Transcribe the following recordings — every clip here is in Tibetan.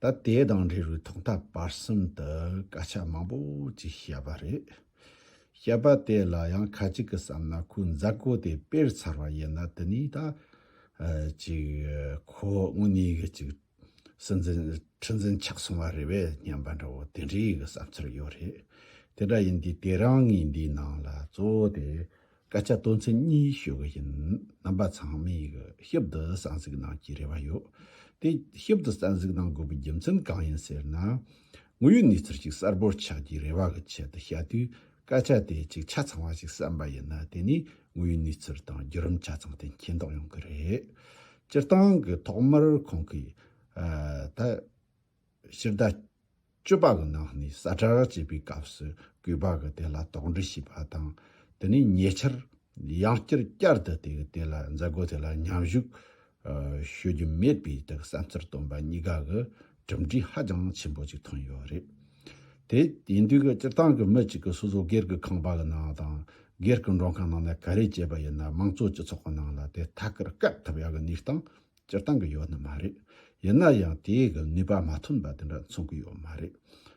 ད་དེ་དང་འབྲེལ་བའི་ཐོག་མཐའ་བར་གསུམ་དུ་སྐད་ཆ་མང་པོ་ཅིག་བཤད་པ་རེད། བཤད་པ་དེ་ལ་ཡང་ཁ་ཅིག་གི་བསམ་ན་ཁོའི་མཛའ་བརྐོ་དེ་དཔེར་ཚར་བ་ཡིན་ན་དེ་ནས་ད་ཅིག་ཁོ་དངོས་གནས་གི་ཅིག་སྲིད་འཛིན་ཁྲི་འཛིན་ཆགས་སོང་བ་རེད་བས་སྙམ་པ་འདྲ་བོ་དེ་འདྲའི་གི་བསམ་ཚུལ་ཡོད་རེད། དེ་འདྲ་ཡིན་དུས་དེ་རང་ངའི་འདིའི་ནང་ལ་གཙོ་བོ་དེ་སྐད་ཆ་དོན་ཚན་གཉིས་ཤོད་གི་ཡིན། རྣམ་པ་ཚང་མས་ཞིབ་ཏུ་གསན་གཟིགས་གནང་རྒྱུའི་རེ་བ་ཡོད། དེ་ཞིབ་ཏུ་གསན་གཟིགས་གནང་དགོས་པའི་རྒྱུ་མཚན་གང་ཡིན་ཟེར་ན། དངོས་ཡོད་གནས་ཚུལ་ཞིག་གསལ་པོར་ཆགས་རྒྱུའི་རེ་བ་གི་ཆེད་དུ་བཤད་དུས་སྐད་ཆ་དེ་གཅིག་ཆ་ཚང་བ་ཞིག་གསན་པ་ཡིན་ན་དེ་ནི་དངོས་ཡོད་གནས་ཚུལ་དང་བརྒྱུད་རིམ་ཆ་ཚང་དེ་མཁྱེན་རྟོགས་ཡོང་གི་རེད། སྤྱིར་བཏང་གི་ཐོག་མར་ཁོང་གིས། སྤྱིར་ཟླ་བཅུ་པ་གི་ནང་ནས་གསར་དར་བྱེད་པའི་སྐབས་སུ་གུས་པ་གི་དེ་ལ་དོགས་འདྲི་བྱས་པ་དང་དེ་ནས་ཉེ་ཆར་ཡང་བསྐྱར་བསྐྱར་དུ་དེ་གི་དེ་ལ་མཛད་སྒོ་དེ་ལ་མཉམ་བཞུགས་ཞུ་རྒྱུ་མེད་པའི་དུ་བསམ་ཚུལ་བཏོན་པ་གཉིས་ཀ་གི་གྲུབ་འབྲས་ཧ་ཅང་ཆེན་པོ་ཅིག་ཐོན་ཡོད་རེད་དེ། ཡིན་དུས་སྤྱིར་བཏང་གི་མི་གཅིག་གི་སོ་སོ་སྒེར་གི་ཁང་པ་གི་ནང་དང་སྒེར་གི་མགྲོན་ཁང་ནང་ནས་ག་རེ་བྱས་པ་ཡིན་ན་དམངས་གཙོ་སྤྱི་ཚོགས་གི་ནང་ལ་དེ་ཐད་ཀར་བསྐད་ཐུབ་ཡག་གི་གནས་སྟངས་སྤྱིར་བཏང་གི་ཡོད་ནི་མ་རེད། ཡིན་ན་ཡང་དེའི་གི་ནུས་པ་མ་ཐོན་པ་དེ་འདྲ་མཚོན་གི་ཡོད་མ་རེད།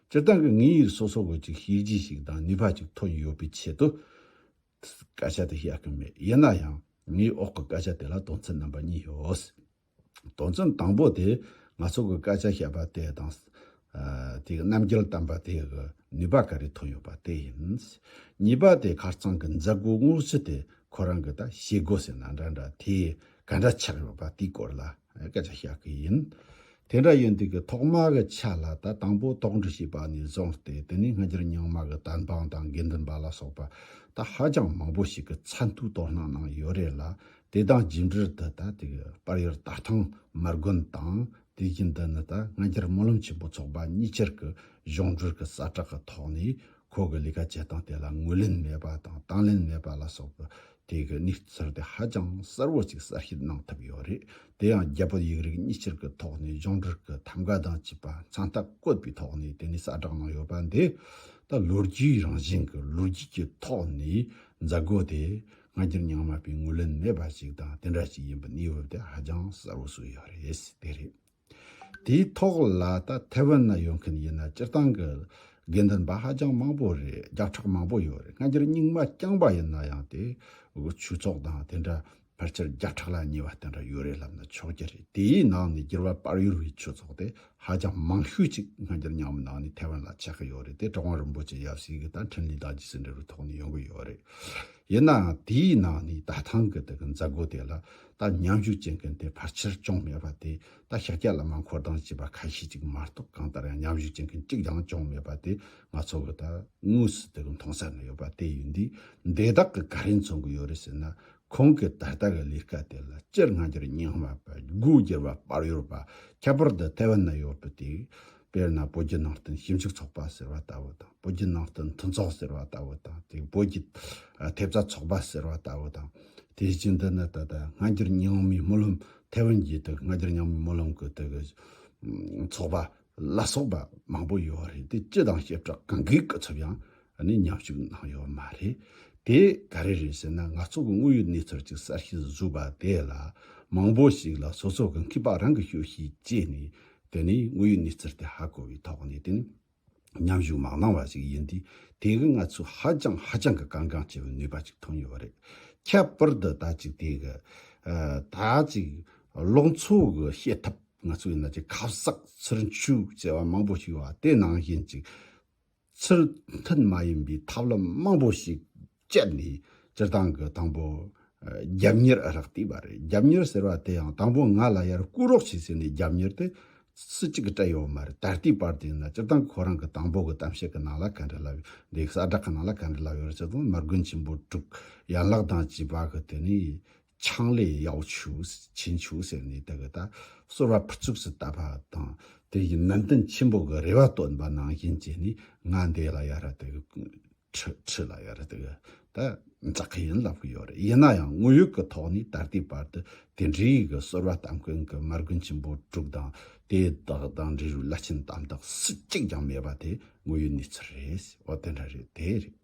སྤྱིར་བཏང་གི་ངའི་ཡུལ་སོ་སོ་གི་ཅིག་ཤེས་རྒྱུ་ཞིག་དང་ནུས་པ་ཅིག་ཐོན་ཡོད་པའི་ཆེད་དུ། སྐད་ཆ་དེ་བཤད་གི་མེད་ཡིན་ན་ཡང་ངའི་འོག་གི་སྐད་ཆ་དེ་ལ་དོན་ཚན་རྣམ་པ་གཉིས་ཡོད། དོན་ཚན་དང་པོ་དེ་ང་ཚོ་གི་སྐད་ཆ་བཤད་པ་དེ་དང། དེའི་རྣམ་རྒྱལ་བསྟན་པ་དེའི་ནུས་པ་ག་རེ་ཐོན་ཡོད་པ་དེ་ཡིན། གཉིས་པ་དེ་ཁར་ཚང་གི་མཛད་སྒོའི་དངུལ་ཆུ་དེ་ཁོ་རང་གི་ད་བྱེད་སྒོ་ཟེར་ན་འདྲ་འདྲ་དེ་ག་འདྲ་ཆགས་ཡོད་པ་དེའི་སྐོར་ལ་སྐད་ཆ་བཤད་གི་ཡིན། དེ་འདྲ་ཡིན་དུས་ཀྱི་ཐོག་མ་གི་ཆ་ལ་ད་དང་པོ་དོགས་འདྲི་བྱས་པ་ནས་བཟུང་སྟེ་དེ་ནས་སྔ་འགྱུར་ཉང་མ་གི་དར་འབངས་དང་དགེ་འདུན་པ་ལ་སོགས་པ་ད་ཧ་ཅང་མང་པོ་ཞིག་གི་ཚ་མཐུག་དོ་སྣང་གནང་ཡོད་རེད་ལ་དེ་དང་རྗེས་འབྲེལ་དུ་ད་དེ་གི་པར་ཡོད་ད་ཐང་མར་དགོན་དང་དུས་རྒྱུན་འདི་ནི་ད་སྔ་འགྱུར་སྨོན་ལམ་ཆེན་པོ་ཚོགས་པ་གཉིས་ཆར་གྱི་གཞུང་སྒྲོལ་གྱི་གསལ་བསྒྲགས་ཀྱི་ཐོག་ནས་ཁོ་གྱི་ལས་ཀ་བྱེད་སྟངས་དེ་ལ་ངོས་ལེན་མེད་པ་དང་དང་ལེན་མེད་པ་ལ་སོགས་པའི་ཐད་ཀྱི་གནས་ཚུལ་དེ་ཧ་ཅང་གསལ་བོ་ཅིག་གསལ་བཤད་གནང་ཐུབ་ཡོད་རེད་དེ་ཡང་རྒྱ་བོད་ཡིག་རིགས་གཉིས་ཆར་གྱི་ཐོག་ནས་གཞུང་སྒྲོལ་གྱི་ཐམ་ག་དང་བཅས་པ་མཚང་རྟགས་བཀོད་པའི་ཐོག་ནས་དེ་ནས་གསལ་བསྒྲགས་གནང་ཡོད་པ་འདི་ད་ལོ་རྒྱུས་རང་བཞིན་གྱི་ལོ་རྒྱུས་ཀྱི་ཐོག་ནས་མཛད་སྒོ་དེ་ང་རྒྱུན་མྱངས་མ་པའི་ངོས་ལེན་མེད་པ་ཞིག་དང་དེ་འདྲ་ཞིག་ཡིན་པ་གནས་བབ་དེ་ཧ་ཅང་གསལ་བོ་བཟོས་ཡོད་རེད་དེ་རེད། དེའི་ཐོག་ལ་ད་ཐེ་ཝན་ན་ཡོད་མཁན་ཡིན་ན་སྤྱིར་བཏང་གི་དགེ་འདུན་པ་ཧ་ཅང་མང་པོ་རེད་རྒྱག་ཁྲག་མང་པོ་ཡོད་རེད་ང་རྒྱུན་རྙིང་མ་རྐྱང་པ་ཡིན་ན་ཡང་དེ་ཆོས་ཚོགས་དང་དེ་འདྲ་ཕལ་ཆེར་རྒྱག་ཁྲག་ལ་ཉེ་བ་དེ་འདྲ་ཡོད་རེད་ལབ་ན་ཆོག་གྱི་རེད་དེའི་ནང་ནས་རྒྱུར་བ་དཔར་ཡུར་བའི་ཆོས་ཚོགས་དེ་ཧ་ཅང་མང་ཤོས་ཅིག་སྔ་འགྱར་ཉམས་མི་ལངས་ནས་ཐའེ་ཝན་ལ་ཆས་ཀྱི་ཡོད་རེད་དེ་ཀྲང་རིན་པོ་ཆེ་ཡབ་སྲས་ཀྱི་དང་འཕྲིན་ལས་དག་ཅིག་ཟིན་འབྲས་བུའི་ཐོག་ནས་ཡོང་གི་ཡོད་རེད། ཡིན་ནའང་དེའི་ནང་ནས་ད་ཐང་གི་དེ་གི་མཛད་སྒོ་དེ་ལ་ད་མཉམ་ཞུགས་བྱེད་མཁན་དེ་ཕར་ཆེར་ཅུང་མེད་པ་དེ་ད་ཤཱ་ཀྱ་ལ་མ་འཁོར་གདངས་བྱས་པ་ཁ་ཤས་ཅིག་མ་གཏོགས་གང་ལྟར་ཡང་མཉམ་ཞུགས་བྱེད་མཁན་གཅིག་ཀྱང་ཅུང་མེད་པ་དེ་ང་ཚོ་གི་ད་དངོས་སུ་དེ་གི་མཐོང་སར་ནས་ཡོད་པ་དེ་ཡིན་དུས་འདས་དག་གི་ག་རེ་མཚོན་གི་ཡོད་རེད་ཟེར་ན་ཁོང་གིས་ད་ལྟ་གི་ལས་ཀ་དེ་ལ་སྤྱིར་སྔ་འགྱུར་རྙིང་མ་པ་སྒོ་བསྒྱུར་བ་པར་ཡོད་པ་ཁྱད་པར་དུ་ཐའེ་ཝན་ན་ཡོད་པ་དེ། དཔེར་ན་བོད་བརྒྱུད་ནང་བསྟན་ཞིབ་འཇུག་ཚོགས་པ་ཟེར་བ་ལྟ་བུ་དང་བོད་བརྒྱུད་ནང་བསྟན་མཐུན་ཚོགས་ཟེར་བ་ལྟ་བུ་དང་དེ་བོད་ཀྱི་ཐེབས་རྩ་ཚོགས་པ་ཟེར་བ་ལྟ་བུ་དང། དེ་བཞིན་དུ་ནི་ད་ལྟ་སྔ་འགྱུར་རྙིང་མའི་སྨོན་ལམ་ཐའེ་ཝན་གྱི་དུ་སྔ་འགྱུར་རྙིང་མའི་སྨོན་ལམ་གྱི་དུ་གི་ཚོགས་པ་ལ་སོགས་པ་མང་པོ་ཡོད་རེད་དེ་སྤྱི་དང་བྱེ་བྲག་གང་གི་སྐུ་ཚབ་ཡང་ནི་མཉམ་ཞུགས་གནང་ཡོད་མ་རེད་དེ་ག་རེ་རེད་ཟེར་ན་ང་ཚོ་གི་དངོས་ཡོད་གནས་ཚུལ་གཅིག་གསར་ཤེས་སུ་བཟོས་པ་དེ་ལ་མང་པོ་ཞིག་ལ་སོ་སོ་གི་མཁས་པ་རང་གི་ཤོད་ཤེས་བྱས་ནས་དེ་ནས་དངོས་ཡོད་གནས་ཚུལ་དེ་ཧ་གོ་བའི་ཐོག་ནས་དེ་ནི་མཉམ་ཞུགས་མ་གནང་བ་ཞིག་ཡིན་དུས་དེ་གི་ང་ཚོས་ཧ་ཅང་ཧ་ཅང་གི་གང་གང་བྱེད་པའི་ནུས་པ་ཅིག་ཐོན་ཡོད་རེད་ཁྱད་པར་དུ་ད་ཅིག་དེ་གི་ད་ཅིག་ལོག་འཚོ་གི་བྱེད་ཐབས། ང་ཚོ་ཡིན་ན་ཅིག་ཁ་གསག་ཚུར་འཆུག་ཅེས་པ་མང་པོ་ཞིག་ཡོད་པ་དེ་ནང་བཞིན་ཅིག་ཚུལ་མཐུན་མ་ཡིན་པའི་ཐབས་ལམ་མང་པོ་ཞིག་སྤྱད་ནས་སྤྱིར་བཏང་གི་དང་པོ་རྒྱབ་གཉེར་རག་བལྟས་པ་རེད་རྒྱབ་གཉེར་ཟེར་བ་དེ་ཡང་དང་པོ་ང་ལ་ཡར་བསྐུར་རོགས་བྱས་ཟེར་ནས་རྒྱབ་གཉེར་དེ་སུ་གཅིག་གིས་སྤྲད་ཡོད་མ་རེད་ད་ལྟའི་བར་དུ་ཡིན་ན་སྤྱིར་བཏང་ཁོ་རང་གི་དང་པོ་གི་གཏམ་བཤད་ཀྱི་ནང་ལ་ག་འདྲི་ལབ་ཡོད་དེ་གསལ་བསྒྲགས་ཀྱི་ནང་ལ་ག་འདྲི་ལབ་ཡོད་རེད་ཅེས་དང་མར་དགོན་ཆེན་པོ་དྲུག་ཡན་ལག་དང་བཅས་པ་གི་དོན་ནི་ཆང་ལས་གཡའུ་ཆུགས་བྱིན་ཆུགས་ཟེར་ནས་དེ་གི་ད་སོར་བ་ཕུར་ཚུགས་སུ་བཏབ་པ་དང་དེ་ཡི་ནན་ཏན་ཆེན་པོ་གི་རེ་བ་བཏོན་པ་ནང་བཞིན་བྱས་ནས་ང་འདས་ལ་ཡར་དེ་གི་ཁྲི་ཁྲི་ལ་ཡར་དེ་གི་ད་འཛག་གི་ཡིན་ལབ་གི་ཡོད་རེད་ཡིན་ན་ཡང་དངོས་ཡོད་གི་ཐོག་ནས་ད་ལྟའི་བར་དུ་དེ་འདྲའི་ཡི་གི་སོར་བ་གཏམ་མཁན་གི་མར་དགུན་ཆེན་པོ་དྲུག་དང་དེ་དག་དང་འབྲི་རུའི་བླ་ཆེན་དམ་དག་སུ་གཅིག་ཀྱང་མེད་པ་དེ་དངོས་ཡོད་གནས་ཚུལ་རེད་འོ་དེ་འདྲ་རེད་དེ་རེད།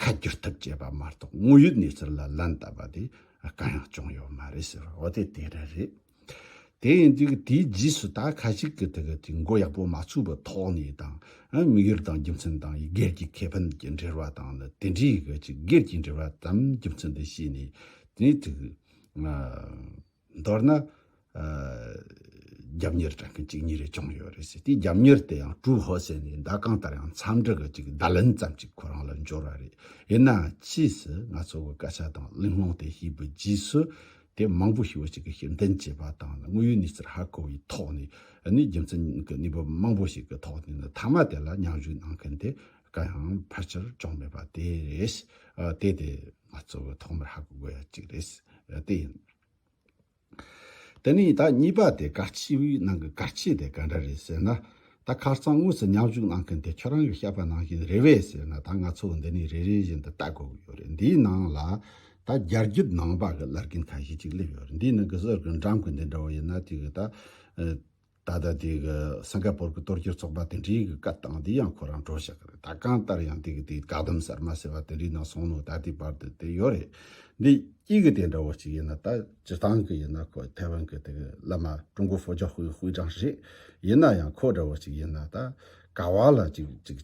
ཁ་བསྒྱུར་ཐབས་བྱས་པ་མ་གཏོགས་དངོས་ཡོད་གནས་ཚུལ་ལ་ལན་བཏབ་པ་དེ་གང་ཡང་བྱུང་ཡོད་མ་རེད་ཟེར་བ་འོ་དེ་དེ་རེད་རེད། དེ་ཡིན་དུས་དེའི་རྗེས་སུ་ད་ཁ་ཞིག་གི་ཐད་ཀྱི་འགོ་ཡག་པོ་མ་ཚུགས་པའི་ཐོག་ནས་དང་དམིགས་ཡུལ་དང་རྒྱུ་མཚན་དང་ཡི་གེར་གྱི་ཁེ་ཕན་གྱི་འབྲེལ་བ་དང་ནི་དེ་འདྲའི་གི་ཅི་སྒེར་གྱི་འབྲེལ་བ་དམ་རྒྱུ་མཚན་དེ་བྱས་ནས་དེ་ནས་ཐུགས། མདོར་ན། རྒྱབ་གཉེར་དྲན་མཁན་གཅིག་གཉིས་རེ་བྱུང་ཡོད་རེད་ཟེར་དེའི་རྒྱབ་གཉེར་དེ་ཡང་ཀྲུའུ་ཧོ་ཟེར་ནས་ཟླ་གང་ལྟར་ཡང་འཚམས་འདྲི་གི་ཅིག་བརྡ་ལན་ཙམ་ཅིག་ཁོ་རང་ལ་འབྱོར་བ་རེད། ཡིན་ནའང་ཕྱིས་སུ་ང་ཚོ་གི་སྐད་ཆ་དང་གླེང་སློང་དེ་ཤེས་པའི་རྗེས་སུ། དེ་མང་པོ་ཞིག་བོད་ཕྱི་གི་ཤེས་ལྡན་བྱེས་པ་དང་ནི་དངོས་ཡོད་གནས་ཚུལ་ཧ་གོ་བའི་ཐོག་ནས་ནི་རྒྱུ་མཚན་གྱི་གནས་བབ་མང་པོ་ཞིག་གི་ཐོག་ནས་ནི་མཐའ་མ་དེ་ལ་མཉམ་ཞུགས་གནང་མཁན་དེ་གང་ཡང་ཕལ་ཆེར་བྱུང་མེད་པ་དེ་རེད། དེ་དེ། ང་གཙོ་བོའི་ཐོག་མར་ཧ་གོ་དགོས་ཡ་གཅིག་རེད། དེ་ཡིན། དེ་ནི་ད་གཉིས་པ་དེ་སྐར་ཆེན་པོའི་ནང་གི་སྐར་ཆེན་དེ་ག་འདྲ་རེད་ཟེར་ན། ད་ཁ་རྩང་དངོས་སུ་མཉམ་ཞུགས་གནང་མཁན་དེ་ཁྱོད་རང་གི་བཤད་པ་ནང་བཞིན་རེད་བས་ཟེར་ན་ད་ང་ཚོ་འདི་ནས་རེ་རེ་བཞིན་དུ་ལྟ་དགོས་ཀྱི་ཡོད་རེད་འདིའི་ནང་ལ་ད་རྒྱ་རྒྱུད་ནང་པ་གི་ལར་གིན་ཁ་ཤས་ཅིག་སླེབས་ཡོད་རེད་འདིའི་ནང་གི་གསར་གི་འགྲམ་གི་འདི་འདྲ་བོ་ཡིན་ན་དེ་གི་ད། ད་ལྟ་དེ་གི་སིང་ག་པོར་གི་གཏོར་སྐྱོན་ཚོགས་པ་དེ་འདྲའི་གི་བཀའ་བཏང་དེ་ཡང་ཁོ་རང་འགྲོ་བཞག་གི་རེད་ད་གང་ལྟར་ཡང་དེ་གི་དེ་བཀའ་བསྡམ་གསར་མ་ཟེར་བ་དེ་འདྲའི་ནང་སོང་ནོ་ད་ལྟའི་བར་དུ་དེ་ཡོད་རེད་འདི་སྐྱིད་གི་དེ་འདྲ་བོ་ཅིག་ཡིན་ན་ད་སྤྱི་བཏང་གི་ཡིན་ན་ཁོ་ཐའེ་ཝན་གི་དེ་གི་བླ་མ་ཀྲུང་གོ་བྷོ་ཇག་ཧུའི་དབུས་དྲང་རེད་ཡིན་ན་ཡང་ཁོ་འདྲ་བོ་ཅིག་ཡིན་ན་ད་ག་བ་ལ་ཅིག་ཅིག།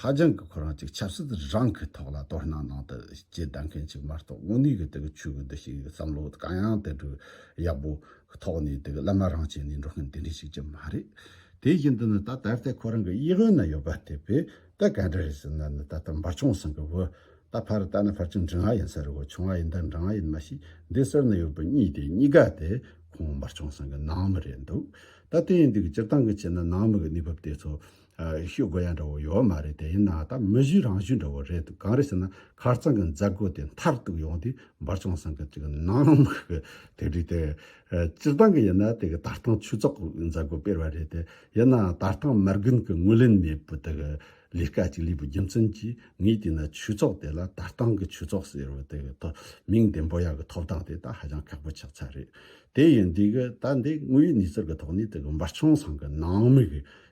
ཧ་ཅང་གི་ཁོ་རང་ཅིག་ཆབ་སྲིད་རང་གི་ཐོག་ལ་དོ་སྣང་གནང་དུ་ཅི་གདའ་མཁན་ཅིག་མ་གཏོགས་དངོས་གནས་གི་དེ་གི་ཆོས་གི་འདི་ཞིག་གི་བསམ་བློ་གང་ཡང་དེ་འདྲའི་ཡག་པོ་ཐོག་ནས་དེ་གི་བླ་མ་རང་བྱས་ནས་འགྲོ་མཁན་དེ་འདྲ་ཞིག་ཅིག་མ་རེད། དེ་བཞིན་དུ་ནི་ད་ད་ལྟའི་ཁོ་རང་གི་དབྱི་ཧོན་ན་ཡོད་པ་དེ་བས་ད་ག་འདྲ་རེད་ཟེར་ན་ནི་ད་ལྟ་འབར་ཆུང་སང་གི་བུ་ད་ཕར་བལྟ་ན་ཕར་ཆུང་འབྲི་ང་ཡིན་ས་རེད་གོ་ཆུང་ང་ཡིན་དང་འབྲི་ང་ཡིན་མ་ཤི་འདི་སར་ནི་ཡོད་པའི་གཉིས་དེ་གཉིས་ཀ་དེ་ཁོང་འབར་ཆུང་སང་གི་ནང་མི་རེད་འདུག་ད་དེ་ཡིན་དུས་ཀྱི་སྤྱིར་བཏང་གི་ཆེད་ན་ནང་མི་གི་གནས་བབ་དེ་ཚོ་ཤོད་དགོས་ཡ་འདྲ་བོ་ཡོད་མ་རེད་དེ་ཡིན་ན་ད་མི་གཞི་རང་བཞིན་འདྲ་བོ་རེད་འདུག་གང་རེད་ཟེར་ན་ཁར་རྩང་གི་མཛད་སྒོ་དེ་མཐར་གཏུགས་ཡོང་དུས་འབར་བྱུང་བསམ་གི་ཅིག་ནང་དམག་གི་དེ་རིགས་དེ། སྤྱིར་བཏང་གི་ཡིན་ན་དེ་གི་ད་ལྟང་ཆོས་ཚོགས་མཛད་སྒོ་སྤེལ་བ་རེད་དེ་ཡིན་ན་ད་ལྟང་མར་རྒུན་གི་ངོས་ལེན་མེད་པོ་དེ་གི་ལས་ཀ་ཅིག་ལས་པོ་རྒྱུ་མཚན་གྱིས་ངས་དེ་ན་ཆོས་ཚོགས་དེ་ལ་ད་ལྟང་གི་ཆོས་ཚོགས་ཟེར་བ་དེ་གི་ཐོག་མིང་དེ་འབོ་ཡ་གི་ཐོབ་ཐང་དེ་ད་ཧ་ཅང་ཁག་པོ་ཆགས་ཚར་རེད་དེ་ཡིན་དུས་གི་ད་འདི་དངོས་ཡོད་ནུས་ཚོར་གི་ཐོག་ནས་དེ་གི་འབར་བྱུང་བསམ་གི་ནང་དམིགས་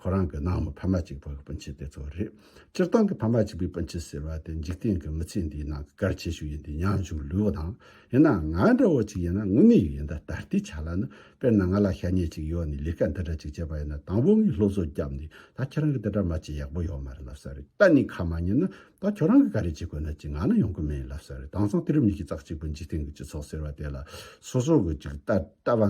ཁོ་རང་གི་ནང་མི་ཕ་མ་གཅིག་པོ་གི་སྤུན་མཆེད་དེ་ཚོ་རེད། སྤྱིར་བཏང་གི་ཕ་མ་གཅིག་པའི་སྤུན་མཆེད་ཟེར་བ་དེ་འཇིག་རྟེན་གི་མི་ཚེ་འདིའི་ནང་གི་གལ་ཆེ་ཤོས་ཡིན་དུས་མྱང་བྱུང་ལུས་བོ་དང། ཡིན་ནའང་ང་འདྲ་བོ་ཅིག་ཡིན་ན་དངོས་གནས་ཡིན་ད་ལྟ་ལྟའི་ཆ་ལ་ནི་དཔེར་ན་ང་ལ་ཤ་ཉེ་ཅིག་ཡོད་ནས་ལས་ཀ་འདི་འདྲ་ཅིག་བྱས་པ་ཡིན་ན་དང་བོ་ངས་སློབ་གསོ་བརྒྱབ་ནས་ད་ཁྱེད་རང་གི་འདི་འདྲ་མ་བྱེད་ཡག་པོ་ཡོད་མ་རེད་ལབ་ས་རེད་གཏན་ནས་ཁ་མ་ཉན་ན་ད་ཁྱོད་རང་གི་ག་རེ་བྱེད་དགོས་ན་ཅིག་ང་ནི་ཡོང་གི་མེད་ལབ་ས་རེད་དྭངས་གཙང་དེ་རིམ་གཉིས་ཀྱི་ཙག་གཅིག་པུ་འཇིག་རྟེན་གྱི་སྤྱི་ཚོགས་ཟེར་བ་དེ་ལ་སོ་སོ་གི་ཅིག་ལྟ་བ་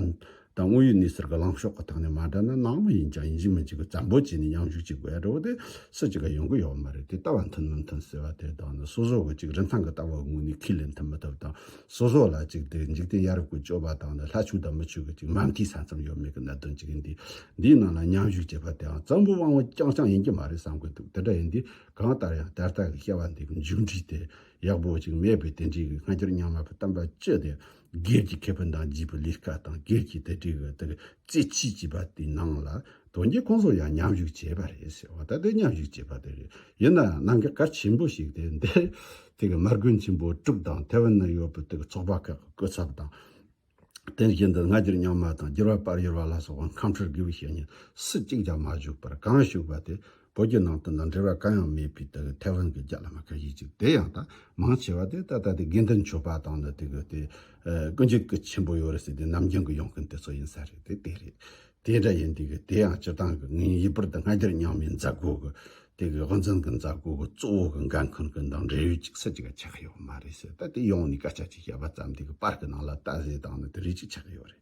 ད་དངོས་ཡོད་གནས་ཚུལ་ག་ལངས་ཕྱོགས་ག་དག་ནས་མ་འདྲ་ན་ནང་མི་ཡིན་ཅང་ཡིན་གཅིག་མིན་གཅིག་གི་བཙན་པོ་བྱས་ནས་ཉམས་ཞུགས་ཅིག་བས་རོ་དེ་སུ་ཅིག་ག་ཡོང་གི་ཡོད་མ་རེད་དེ་ལྟ་བ་མཐུན་མི་མཐུན་ཟེར་བ་དེ་དག་ནི་སོ་སོ་གི་ཅིག་རིན་ཐང་གི་ལྟ་བ་ངོས་ནས་ཁས་ལེན་ཐུབ་མི་ཐུབ་དང་སོ་སོ་ལ་ཅིག་དེ་འཇིག་རྟེན་ཡ་རབས་ཀྱི་སྤྱོད་པ་དག་ནི་ལྷ་ཆོས་དང་མི་ཆོས་ཀྱི་ཅིག་མ་མཐའི་ས་མཚམས་ཡོད་མེད་ཀྱི་གནད་དོན་ཅིག་ཡིན་དུས་འདིའི་ནང་ལ་ཉམས་ཞུགས་བྱེད་པ་དེའང་བཙན་པོའི་དབང་བོ་རྐྱང་རྐྱང་ཡིན་གྱི་མ་རེད་བསམ་གྱི་འདུག་དེ་འདྲ་ཡིན་དུས་གང་ལྟར་ཡང་དེ་ལྟ་གི་བཤད་པ་འདི་གི་མཇུག་འགྲིལ་དེ་ཡག་པོ་ཅིག་མེད་པས་དེ་འདྲའི་གི་སྔ་འགྱུར་རྙིང་མ་གི་གཏམ་པ་སྤྱི་དེ། སྒེར་གྱི་ཁེ་ཕན་དང་བརྗིད་པའི་ལས་ཀ་དང་སྒེར་གྱི་དེ་འབྲེལ་གྱི་དེར་རྩེད་ཆས་བྱས་པ་དེའི་ནང་ལ་དོན་གྱིས་ཁོང་ཚོ་ཡང་མཉམ་བཞུགས་བྱས་པ་རེད་ཟེར་བ་ད་ལྟའི་མཉམ་བཞུགས་བྱས་པ་དེ་རེད་ཡིན་ནའང་གནང་གི་གལ་ཆེན་པོ་ཞིག་དེ་འདིར་དེ་གི་མར་རྒོད་ཆེན་པོ་དྲུག་དང་ཐེ་ཝན་ན་ཡོད་པའི་དེ་གི་ཚོགས་པ་ཁག་གི་སྐུ་ཚབ་དང། དེ་བཞིན་དུ་སྔ་འགྱུར་རྙིང་མ་དང་འགྱུར་བ་དཔལ་གཡོར་བ་ལ་སོགས་པ་ཁམས་ཁྲོད་དགེ་བའི་བཤེས་གཉེན་སུ་གཅིག་ཀྱང་མ་བཞུགས་པར་གང་བཞུགས་པ་དེ་བོད་རྒྱུད་ནང་དུ་ན་འབྲེལ་བ་གང་ཡང་མེད་པའི་དེ་གི་ཐའེ་ཝན་གི་རྒྱ་ལ་མ་ཁ་ཤས་ཅིག་དེ་ཡང་ད་མང་ཆེ་བ་དེ་ད་ལྟ་དེ་དགེ་འདུན་ཆོས་པ་དང་ནི་དེ་གི་དེ་ཀུན་སྤྱོད་གི་ཆེན་པོ་ཡོད་རེད་ཟེར་དེ་ནམ་རྒྱུན་གི་ཡོང་མཁན་དེ་ཚོ་ཡིན་ས་རེད་དེ་དེ་རེད། དེ་འདྲ་ཡིན་དེ་གི་དེ་ཡང་སྤྱིར་བཏང་གི་ངའི་ཡིད་པར་དུ་སྔ་འགྱུར་རྙིང་མའི་མཛད་སྒོ་གི་དེ་གི་དབུ་འཛིན་གི་མཛད་སྒོ་གི་གཙོ་བོ་གི་འགན་འཁུར་མཁན་དང་འབྲེལ་ཡོད་ཅིག་སུ་ཅིག་ག་ཆགས་ཡོད་མ་རེད་ཟེར་ད་དེ་ཡོང་ནས་སྐད་ཆ་ཅིག་བཤད་པ་ཙམ་དེ་གི་པར་གི་ནང་ལ་ལྟ་ཟེར་དང་ནི་དེ་རིགས་ཅིག་ཆགས་ཡོད་རེད།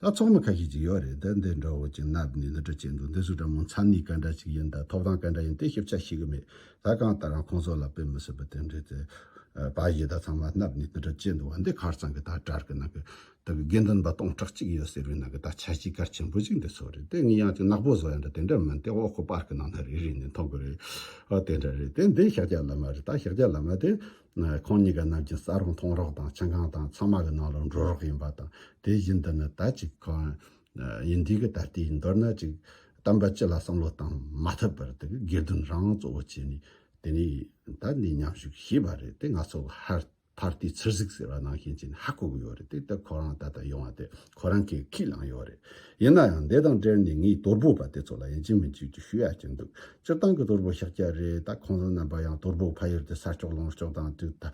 ད་ཚོགས་མི་ཁ་ཤས་ཅིག་ཡོད་རེད་ད་འདི་འདྲ་བོ་ཅིག་མནབ་ནས་འདི་འདྲ་བྱེད་འདུག་འདི་སུ་འདྲ་མང་འཚམས་ནས་ག་འདྲ་ཞིག་ཡིན་དང་ཐོབ་ཐང་ག་འདྲ་ཡིན་དེ་ཞིབ་ཆ་ཤེས་གི་མེད་ད་གང་ལྟར་རང་ཁོང་ཚོ་ལ་དཔེ་མི་སྲིད་པ་དེ་འདྲའི་དེ་བ་ཞིག་ད་ཚང་མ་མནབ་ནས་འདི་འདྲ་བྱེད་འདུག་བ་འདི་གར་ཚང་གི་ད་དྲར་གི་ནང་གི་ད་གི་དགེ་འདུན་པ་སྟོང་ཕྲག་གཅིག་ཡོད་ཟེར་བའི་ནང་གི་ད་ཆ་གཞིས་སྒར་ཆེན་པོ་ཞིག་འདི་ཚོ་རེད་དེ་ངས་ཡང་ཅིག་ནག་པོ་བཟོ་ཡང་འདྲ་དེ་འདྲ་མིན་དེ་འོག་གི་པར་གི་ནང་ན་རེ་རེ་ནས་མཐོང་གི་རེད་ཨ་དེ་འདྲ་རེད་དེ་འདི་ཤཱཀྱ་བླ་མ་རེད་ད་ཤཱཀྱ་བླ་མ་དེ། ཁོང་གཉིས་ཀ་རྣམས་ཀྱི་ས་རོགས་མཐོང་རོགས་དང་ཆང་ཁང་དང་ཚང་མ་གི་ནང་ལ་འགྲོ་རོགས་ཡིན་པ་དང་དེ་བཞིན་འདི་ནི་ད་ཅིག་གང་ཡིན་འདི་གི་ད་ལྟའི་མདོར་ན་ཅིག་གཏམ་པ་སྤྱི་ལ་བསམ་བློ་བཏང་མ་ཐུབ་པར་དེ་གི་དགེ་འདུན་རང་གཙོ་བོ་བྱས་ནས་དེ་ནས་ད་འདི་མཉམ་ཞུགས་ཞེས་པ་རེད་དེ་ང་ཚོ་གི་ཧར་ཕར་ཏི་ཚུར་གཟིགས་ཟེར་བ་ནང་བཞིན་བྱས་ནས་ཧ་གོ་གི་ཡོད་རེད་དེ་ད་ཁོ་རང་ད་ལྟ་ཡོང་བ་དེ་ཁོ་རང་གིས་ཁས་བླངས་ཡོད་རེད། ཡིན་ན་ཡང་འདི་དང་འབྲེལ་ནས་ངས་དོལ་པོ་པ་དེ་ཚོ་ལ་ཡིན་གཅིག་མིན་གཅིག་ཅིག་ཞུ་ཡ་གྱི་འདུག་སྤྱིར་བཏང་གི་དོལ་པོ་ཤཱཀ་རྒྱ་རེད་ད་ཁོང་ཚོ་རྣམ་པ་ཡང་དོལ་པོ་ཕ་ཡུལ་དུ་ས་སྐྱོགས་ལོངས་སྐྱོགས་དང་དུས་ད་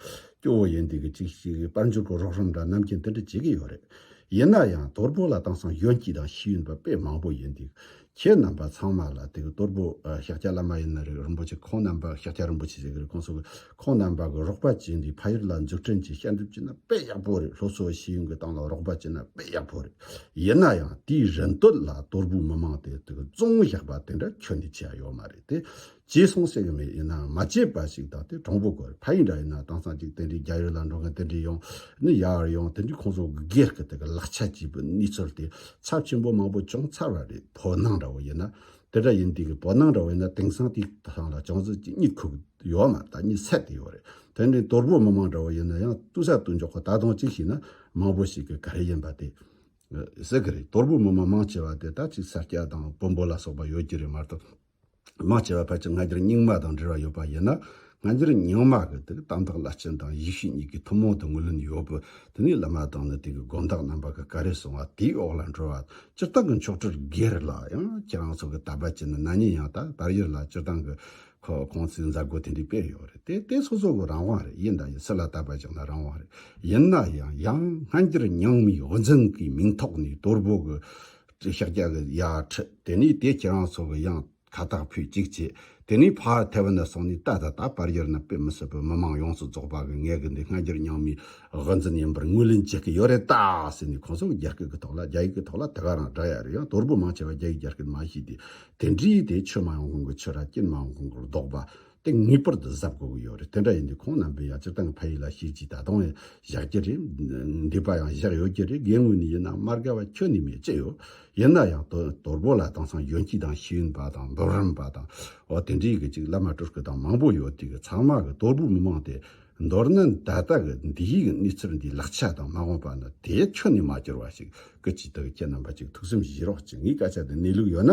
སྐྱོ་བོ་ཡིན་འདུག་གི་ཅིག་ཅིག་གིས་དཔལ་འབྱོར་གྱི་རོགས་རམ་འདྲ་ནམ་གྱིས་འདི་འདྲ་བྱེད་ཀྱི་ཡོད་རེད། ཡིན་ན་ཡང་དོལ་པོ་ལ་བཏང་སང་གཞོན་སྐྱིད་དང་ཤེས་ཡོན་པ་དཔེ་མང་པོ་ཡིན་འདུག་ཁྱེད་རྣམ་པ་ཚང་མ་ལ་དེ་གི་གཏོར་བུ་ཤཱཀྱ་བླ་མ་ཡི་ན་རིག་རིན་པོ་ཆེ་ཁོང་རྣམ་པ་ཤཱཀྱ་རིན་པོ་ཆེ་ཟེར་གི་རེད་ཁོང་སོགས་ཀྱི་ཁོང་རྣམ་པ་གི་རོགས་པ་བྱེད་འདི་ཕ་ཡུལ་ལ་འཛུགས་སྐྲུན་གྱི་ཤ་འདེབས་ཀྱི་ན་དཔེ་ཡག་པོ་རེད་ལྷོ་སོ་ཤེས་ཡོན་གྱི་ཏང་ལ་རོགས་པ་བྱེད་ན་དཔེ་ཡག་པོ་རེད་ཡིན་ན་ཡང་དེའི་རིན་དོད་ལ་གཏོར་བུ་མི་མང་དེ་དེ་གི་བཙོང་བཞག་པ་དེ་འདྲ་ཁྱོད་ནས་བྱས་ཡོད་མ་རེད་དེ། བྱས་སོང་ཟེར་གི་མེད་ཡིན་ནའང་མ་བྱས་པ་ཞིག་བདག་དེ་དྲང་པོ་དགོས་ཕ་ཡིན་འདྲ་ཡིན་ན་དྭངས་གཙང་ཅིག་དེ་འདྲའི་རྒྱ་ཡོད་ལ་འགྲོ་མཁན་དེ་འདྲའི་ཡོང་ནི་ཡར་ཡོང་དེ་འདྲའི་ཁོང་ཚོ་སྒེར་གི་དེ་གི་ལག་ཆ་སྐྱིད་པོ་ནུས་ཚོར་དེ་ཚབས་ཆེན་པོ་མང་པོ་བྱུང་ཚར་བ་རེད་བོད་ནང་འདྲ་བོ་ཡིན་ན་དེ་འདྲ་ཡིན་དེ་གི་བོད་ནང་འདྲ་བོ་ཡིན་ན་དེང་སང་དེའི་ཐང་ལ་བྱང་བརྩེ་གཅིག་གཉིས་ཁུག་ཡོད་མ་ད་གཉིས་ཚད་དེ་ཡོད་རེད་དེ་འདྲའི་དོལ་པོ་མི་མང་འདྲ་བོ་ཡིན་ན་ཡང་ཏུ་ས་ཏུ་འཇོག་གི་ད་དང་གཅིག་ཞིག་ན་མང་པོ་ཞིག་གི་ག་རེ་ཡིན་པ་དེ་ཟེར་གི་རེད་དོལ་པོ་མི་མང་མང་ཆེ་བ་དེ་ད་ཅིག་ས་སྐྱ་དང་བོན་པོ་ལ་སོགས་པ་ཡོད་ཀྱི་རེད་མ་གཏོགས། མ་སྐྱེས་པ་ཕལ་ཆེར་སྔ་འགྱུར་རྙིང་མ་དང་འབྲེལ་བ་ཡོད་པ་ཡིན་ན། སྔ་འགྱུར་རྙིང་མ་གི་དེ་གི་དམ་བཏགས་བླ་སྤྱི་དང་ཡེ་ཤུ་གཉིས་ཀྱི་ཐུན་མོང་དུ་ངོས་ལེན་ཡོད་པས་དེ་གཉིས་བླ་མ་དང་ནི་དེ་གི་དགོན་བདག་རྣམ་པ་གི་བཀའ་རེ་གསུང་བ་དེའི་འོག་ལ་འགྲོ་བ། སྤྱིར་བཏང་གི་མཆོག་སྤྲུལ་སྒེར་ལ་ཡང་ཁྱེད་རང་ཚོ་གི་ད་བར་གྱི་ནི་ན་ནིང་ཡང་དག་པར་ཡོད་ལ་སྤྱིར་བཏང་གི་ཁོང་ཚོའི་མཛད་སྒོ་དེ་འདྲའི་དཔེ་ཡོད་རེད་དེ་དེ་སོ་སོ་གི་རང་དབང་རེད་ཡིན་ད་ཡིན་སྲིད་ལ་ད་བར་གྱི་ནི་རང་དབང་རེད་ཡིན་ན་ཡང་ཡང་སྔ་འགྱུར་རྙིང་མའི་དབུ་འཛིན་གི་མིང་ཐོག་ནས་དོལ་པོ་གི་ཀྱི་ཤཱཀྱ་ཀྱི་ཡ། དེ་ནས་དེས་ཁྱེད་རང་ཚོ་གི་གཡང་ཁ་དག་ཕུད་ཅིག་ཅེས་དེ་ནས་བྷ་ཧར་ཐེ་བ་ན་སོང་ནས་ཏདྷ་ད་བར་ཡར་ན་དཔེ་མི་སྲིད་པའི་མི་མང་ཡོངས་སུ་རྫོགས་པ་གིས་ངས་གི་འདི་སྔ་འགྱུར་རྙིང་མའི་དབུ་འཛིན་ཡིན་པར་ངོས་ལེན་བྱེད་ཀྱི་ཡོད་རེད་ད་ཟེར་ནས་ཁོང་ཚོ་གི་རྒྱ་སྐད་ཀྱི་ཐོག་ལ་རྒྱ་ཡིག་གི་ཐོག་ལ་དེ་ག་རང་འདྲ་ཡ་རེད་ཡང་དོར་པོ་མང་ཆེ་བ་རྒྱ་ཡིག་རྒྱ་སྐད་མ་ཤེས་ཏེ་དེ་འདྲིས་དེ་ཆོས་མ་ཡོང་གོང་གི་ཆོས་ར་སྐྱེན་མ་ཡོང་གོང་གི་ལྡོག་པ་དེ་ངེས་པར་དུ་གཟབ་དགོས་ཀྱི་ཡོད་རེད་དེ་འདྲ་ཡིན་དུས་ཁོང་རྣམ་པས་ཡང་སྤྱིར་བཏང་གི་ཕ་ཡུལ་ལ་ཤེས་ཀྱི་ད་དུང་ཡང་བཞག་གི་རེད། འདས་པ་ཡང་བཞག་ཡོད་ཀྱི་རེད་དགེ་དངོས་ནི་ཡིན་ནམ་མར་དགའ་བ་ཁྱོད་ནི་མེད་ཅི་ཡོད། ཡིན་ན་ཡང་དོལ་པོ་ལ་དེང་སང་གཞོན་སྐྱེས་དང་ཤེས་ཡོན་པ་དང་མདོ་རིམ་པ་དང་འོ་དེ་འདྲའི་གི་ཅིག་བླ་མ་སྤྲུལ་སྐུ་དང་མང་པོ་ཡོད་དུས་གི་ཚང་མ་གི་དོལ་པོ་མི་མང་དེ་མདོར་ན་ད་ལྟ་གི་འདི་ཡི་གི་གནས་ཚུལ་འདིའི་ལག་ཆ་དང་མ་འོངས་པ་ནི་དེ་ཁྱོད་ནི་མ་བསྐྱུར་བ་ཞིག་གི་ཅིག་དེ་གི་ཁྱེད་རྣམ་པ་ཅིག་ཐུགས་སེམས་གཞིག་རོགས་ཅིག་ངའི་སྐད་ཆ་འདི་གནས་ལུགས་ཡོད་ན།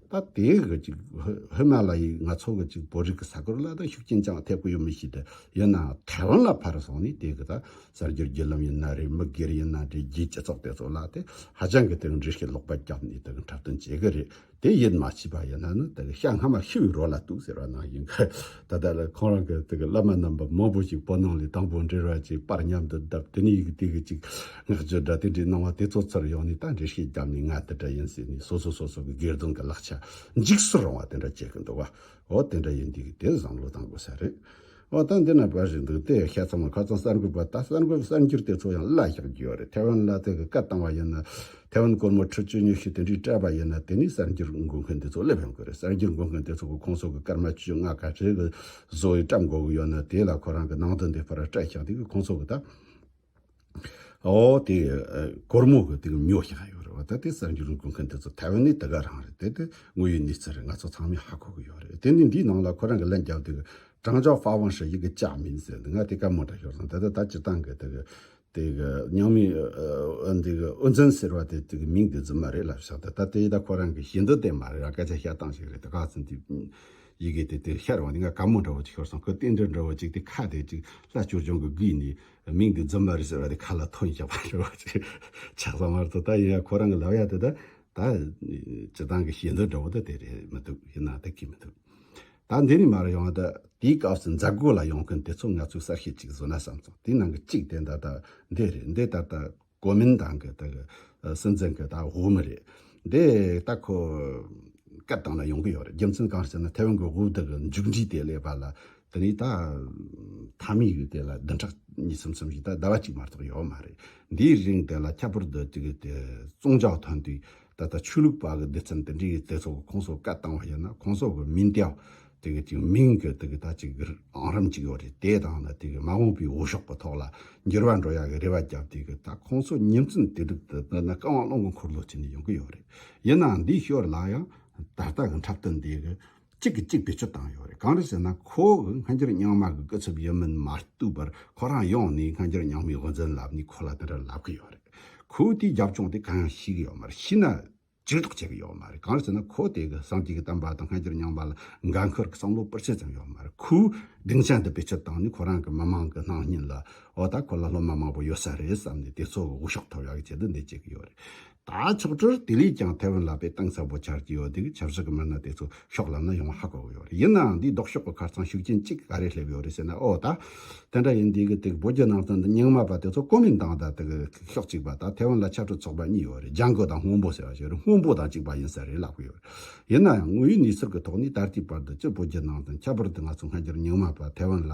ད་ལྟའི་གི་ཅིག་ཧི་མ་ལ་ཡིས་ང་ཚོ་གི་ཅིག་བོད་རིགས་ཀི་ས་ཁུལ་ལ་ད་ཤུགས་རྐྱེན་ཅང་ཐེབས་གི་ཡོད་མི་ཤེས་ཏེ་ཡིན་ནའང་ཐའེ་ཝན་ལ་ཕར་སོང་ནས་དེ་གི་ད་གསར་འགྱུར་བརྒྱུད་ལམ་ཡིན་ན་རེད་མི་སྒེར་ཡིན་ན་རེད་རྒྱའི་སྤྱི་ཚོགས་དེ་ཚོ་ལ་དེ་ཧ་ཅང་གི་དེ་གི་འདྲི་ཤེས་ལོག་པ་རྒྱབ་ནས་དེ་གི་འཁྲབ་སྟོན་བྱེད་གི་རེད་དེ་ཡིད་མ་ཆེས་པ་ཡིན་ན་ནི་དེ་གི་ཤ་སྔ་མ་ཤི་བའི་རོ་ལ་གཏུགས་ཟེར་བ་ནང་བཞིན་གི། ད་ལྟ་ལ་ཁོང་རང་གི་དེ་གི་བླ་མ་རྣམས་པ་མང་པོ་ཞིག་བོད་ནང་ལས་དང་པོ་འབྲེལ་བ་ཅིག་པར་མཉམ་དུ་བརྡབ་དེ་ནས་ཡིག་དེ་གི་ཅིག་སྔགས་རྒྱུད་སྒྲ་དེ་འདྲའི་སྣང་བ་དེ་ཚོ་ཚུར་ཡོང་ནས་ད་འདྲེ་ཤེས་རྒྱབ་ནས་ང་དེ་འདྲ་ཡིན་ཟེར་ནས་སོ་སོ་སོ་སོ་གི་སྒེར་དོན་གི་ལག་ཆ་འཇིགས་སུ་རུང་བ་དེ་འདྲ་བྱེད་གི་འདུག་བ་འོ་དེ་འདྲ་ཡིན་དུས་དེ་བཟང་བློ་བཏང་དགོས་ས་རེད་འོ་ད་འདི་ན་བར་ཞིག་འདུག་དེ་ཤ་ཚ་མ་ཁ་ཚང་གསར་འགོད་པ་ད་གསར་འགོད་གསར་འགྱུར་དེ་ཚོ་ཡང་བླ་ཞག་རྒྱུ་ཡོད་རེད་ཐེ་ཝན་བླ་དེ་གི་བཀའ་བཏང་བ་ཡིན་ན། ཐའེ་ཝན་སྒོར་མོ་ཁྲི་བཅུ་ཉི་ཤུ་དེ་འདྲའི་སྤྲད་པ་ཡིན་ན་དེ་ནས་གསར་འགྱུར་འགོད་མཁན་དེ་ཚོ་སླེབས་ཡོང་གི་རེད་གསར་འགྱུར་འགོད་མཁན་དེ་ཚོ་གི་ཁོང་ཚོ་གི་སྐར་མ་བཅོ་ལྔ་ག་ཚོད་ཀྱི་བཟོ་བའི་སྐྲ་འགོ་གི་ཡོད་ན་དེ་ལ་ཁོ་རང་གི་ནང་དོན་དེ་ཕར་སྤྲད་ཤག་དེ་གི་ཁོང་ཚོ་གི་ད་ཨོ་དེ་སྒོར་མོ་གི་དེ་གི་ཉོ་ཤག་ཡོད་རེད་བ་ད་དེ་གསར་འགྱུར་འགོད་མཁན་དེ་ཚོ་ཐའེ་ཝན་ནས་དེ་ག་རང་རེད་དེ་དེ་དངོས་ཡོད་གནས་ཚུལ་རེད་ང་ཚོ་ཚང་མས་ཧ་གོ་གི་ཡོད་རེད་དེ་ནས་འདིའི་ནང་ལ་ཁོ་རང་གི་ལན་རྒྱབ་དེ་གི་ཀྲང་ཅའོ་ཧྥ་ཝང་ཧྲི་ཡི་གི་ཅག་མིན་ཟེར་དེ་ང་དེ་ག་མོ་འདྲ་ཤོར་སོང་ད་ལྟ་ད་སྤྱིར་བཏང་གི་དེ་གི་དེ་གི་ཉང་མི་འདི་གི་ཨོ་འཛིན་ཟེར་བ་དེ་དེ་གི་མིང་དེ་རྫུན་མ་རེད་ལབ་ཤག་དེ་ད་དེ་ད་ཁོ་རང་གི་ཞེ་འདོད་དེ་མ་རེད་ར་སྐད་ཆ་བཤད་སྟངས་ཞིག་རེད་དེ་ག་ཚོད་འདི་ཡི་གེ་དེ་དེ་ཤར་བ་འདི་ང་ག་མོ་འདྲ་བོ་ཅིག་ཤོར་སོང་ཁོ་རྟེན་འབྲེལ་འདྲ་བོ་ཅིག་དེ་ཁ་དེ་ཅིག་ལ་བསྐྱུར་བྱུང་གི་གི་ནི་མིང་དེ་རྫུན་མ་རེད་ཟེར་བ་དེ་ཁ་ལ་ཐོན་ཞག་པ་འདྲ་བོ་ཅིག་ཆགས་སོང་མ་རེད་ད་ཡིན་ཡང་ཁོ་རང་གི་ལབ་ཡ་དེ་ད་ད་བྱེད་སྟངས་གི་ཞེ་འདོད་འདྲ་བོ་ད་དེ་རེད་མི་འདུག་ཡིན་ན་ད་གི་མི་འདུག་ད་འདི་ནས་མར་ཡོང་ད་དེའི་སྐབས་སུ་འཛད་སྒོ་ལ་ཡོང་མཁན་དེ་ཚོ་ང་ཚོའི་གསར་ཤེས་ཅིག་བཟོ་ན་བསམ་སོང་དེའི་ནང་གི་གཅིག་དེ་ད་ལྟ་འདི་རེད་འདི་ད་ལྟ་གོ་མིན་ཏང་གི་ད་གི་སྲིད་འཛིན་གི་ད་དབུ་མི་རེད་འདི་ད་ཁོ་སྐད་བཏང་ན་ཡོང་གི་ཡོད་རེད་རྒྱུ་མཚན་གང་ཞེ་ན་ཐེ་ཝན་གི་དབུ་དག་གི་མཇུག་འབྲས་དེ་ལས་པ་ལ་དེ་ནས་ད་མཐའ་མའི་ཡུལ་དེ་ལ་བདུན་ཕྲག་གཉིས་གསུམ་གསུམ་བཞི་ད་ཟླ་བ་གཅིག་མ་གཏོགས་ཡོད་མ་རེད་འདིའི་རིང་དེ་ལ་ཁྱད་པར་དུ་ཏི་གི་དེ་བཙོང་བྱ་ཐོན་དུས་ད་ལྟ་ཆོས་ལུགས་པ་གི་འདི་ཚོ་འདི་འདྲའི་དེ་ཚོ་ཁོང་ཚོ་བཀའ་བཏང་བ་ཡིན་ན་ཁོང་ཚོ་གི་མིང་དེའང་དེ་གི་ཅིག་མིང་གི་དེ་གི་ད་ཅིག་ཨང་རིམ་ཅིག་ཡོད་རེད་དེ་དང་ན་དེ་གི་མ་འོངས་པའི་འོས་ཤོག་གི་ཐོག་ལ་འགྱུར་བ་འགྲོ་ཡག་གི་རེ་བ་བརྒྱབ་དེ་གི་ད་ཁོང་ཚོ་ཉིན་མཚན་དེ་དྲུག་ཏུ་འདི་ན་བཀའ་དབང་སློང་གི་འཁོར་ལོ་ཅིག་ནས་ཡོང་གི་ཡོད་རེད་ཡིན་ནའང་འདིའི་ཞོར་ལ་ཡང་ད་ལྟ་གི་འཁྲབ་སྟོན་དེ་གི། གཅིག་གིས་གཅིག་བེད་སྤྱོད་བཏང་ཡོད་རེད་གང་རེད་ཟེར་ན་ཁོ་གི་སྔ་འགྱུར་རྙིང་མ་གི་སྐུ་ཚབ་ཡིན་མིན་མ་ལྟོས་པར་ཁོ་རང་ཡོང་ནས་སྔ་འགྱུར་རྙིང་མའི་དབུ་འཛིན་ལབ་ནས་ཁོ་ལ་དེ་འདྲ་ལབ་གི་ཡོད་རེད། ཁོས་དེའི་རྒྱབ་ལྗོངས་དེ་གང་ཡང་ཤེས་གི་ཡོད་མ་རེད་ཤེས་ན་ཇུས་གཏོགས་བྱེད་གི་ཡོད་མ་རེད་གང་རེད་ཟེར་ན་ཁོ་དེ་གི་བསམ་གྱི་གི་བསྟན་པ་དང་སྔ་འགྱུར་རྙིང་མ་ལ་འགན་ཁུར་གི་བསམ་བློ་སྤུར་ཆེ་ཙམ་ཡོད་མ་རེད་ཁོས་སྡིངས་ཆ་འདི་བེད་སྤྱོད་བཏང་ནས་ཁོ་རང་གི་མི་མང་གི་སྣང་བརྙན་ལ་འོ་ད་ཁོ་ལ་སློབ་མ་མང་པོ་ཡོད་ས་རེད་བསམ་ནས་དེ་ཚོ་གི་དབུ་ཤོག་ཐོབ་ཡག་གི་ཆེད་དུ་འདི་བྱེད་གི་ཡོད་རེད། ད་ཕྱོགས་ཀྲོར་ཏི་ལིས་ཀྱང་ཐའེ་ཝན་ལ་བེད་སྟངས་གསལ་པོ་འཆར་གྱི་ཡོད་འདུག་ཆབ་སྲིད་ཀྱི་མི་སྣ་དེ་ཚོ་ཤོག་ལམ་ན་ཡོང་བ་ཧ་གོ་གི་ཡོད་རེད་ཡིན་ནའང་འདིའི་ལྡོག་ཕྱོགས་ཀྱི་ཁར་ཚང་ཤུགས་རྐྱེན་གཅིག་ག་རེ་སླེབས་ཡོད་རེད་ཟེར་ན་ཨོ་ད། དེ་འདྲ་ཡིན་འདི་གི་དེ་གི་བོད་བརྒྱུད་ནང་བསྟན་དང་རྙིང་མ་པ་དེ་ཚོ་ཀོ་མིན་དང་དང་དེ་གི་ཕྱོགས་གཅིག་པ་དང་ཐའེ་ཝན་ལ་ཕྱར་གྲུ་ཚོགས་པ་གཉིས་ཡོད་རེད་ལྗང་གུ་དང་སྔོན་པོ་ཟེར་བ་ཞིག་རེད་སྔོན་པོ་དང་གཅིག་པ་ཡིན་ས་རེད་ལབ་གི་ཡོད་རེད་ཡིན་ནའང་དངོས་ཡོད་གནས་ཚུལ་གྱི་ཐོག་ནས་ད་ལྟའི་བར་དུ་སྤྱིར་བོད་བརྒྱུད་ནང་བསྟན་ཁྱད་པར་དུ་ང་ཚོ་སྔ་འགྱུར་རྙིང་མ་པ་ཐའེ་ཝན་ལ་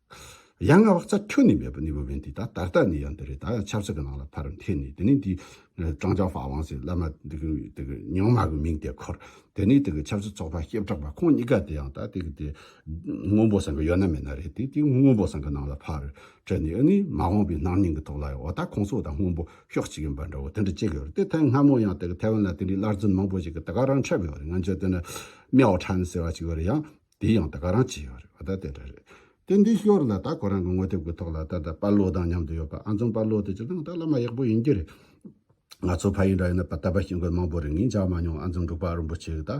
ཡང་ན་བག་ཚ་ཁྱོན་ནས་མེད་པ་ནི་འོས་བའི་འདི་དང་ད་ལྟ་ནི་ཡང་འདི་རེད་ད་ཡང་ཆབ་སྲིད་ཀྱི་ནང་ལ་ཕར་འཐེན་ནས་དེ་ནས་འདི་ཀྲང་ཅང་ཧྥ་ཝང་ཟེར་བླ་མ་དེ་གི་དེ་གི་ཉིང་མ་གི་མིང་དེ་འཁོར་དེ་ནས་དེ་གི་ཆབ་སྲིད་ཚོགས་པ་སྐྱེ་བྲག་པ་ཁོང་གཉིས་ཀ་དེ་ཡང་ད་དེ་གི་དེ་དངོས་པོ་ཟེར་གི་ཡོད་ན་མེད་ན་རེད་དེ་དེ་དངོས་པོ་ཟེར་གི་ནང་ལ་ཕར་དྲན་ནས་ཨ་ནི་མ་འོངས་པའི་སྣང་བརྙན་གྱི་ཐོག་ལ་ཡང་འོ་ད་ཁོང་ཚོ་དང་དངོས་པོ་ཤོག་གཅིག་ཡིན་པ་འདྲ་བོ་དེ་འདྲ་བྱེད་གི་ཡོད་རེད་དེ་ཐེངས་སྔ་མོ་ཡང་དེ་གི་ཐེ་ཝན་ལ་དེ་འདྲའི་སླར་རྫུན་མང་པོ་ཞིག་གི་དེ་ག་རང་འཕྲད་གི་ཡོད་རེད་ང་ཚོའི་དེ་ནི་མེའོ་ཁྲན་ཟེར་བ་ཅིག་ཡོད་རེད་ཡང་དེ་ཡང་ད་ག་རང་བྱས་ཡོད་རེད་བ་ད་དེ་འདྲ་རེད་དེ་འདི་ཤོར་ལ་ད་གོ་རང་གི་ངོ་དེབ་གི་ཐོག་ལ་ད་ད་པ་ལོ་དང་མཉམ་དུ་ཡོད་པ་ཨ་འཛོམས་པ་ལོ་དེ་ཅི་དང་ད་བླ་མ་ཡག་པོ་ཡིན་གྱི་རེད། ང་ཚོ་ཕ་ཡིན་འདྲ་ཡིན་ན་པ་ད་པ་ཤེས་མཁན་མང་པོ་རེད་ངས་འཇགས་མ་མྱོང་ཨ་འཛོམས་འབྲུག་པ་རིན་པོ་ཆེ་གི་ད་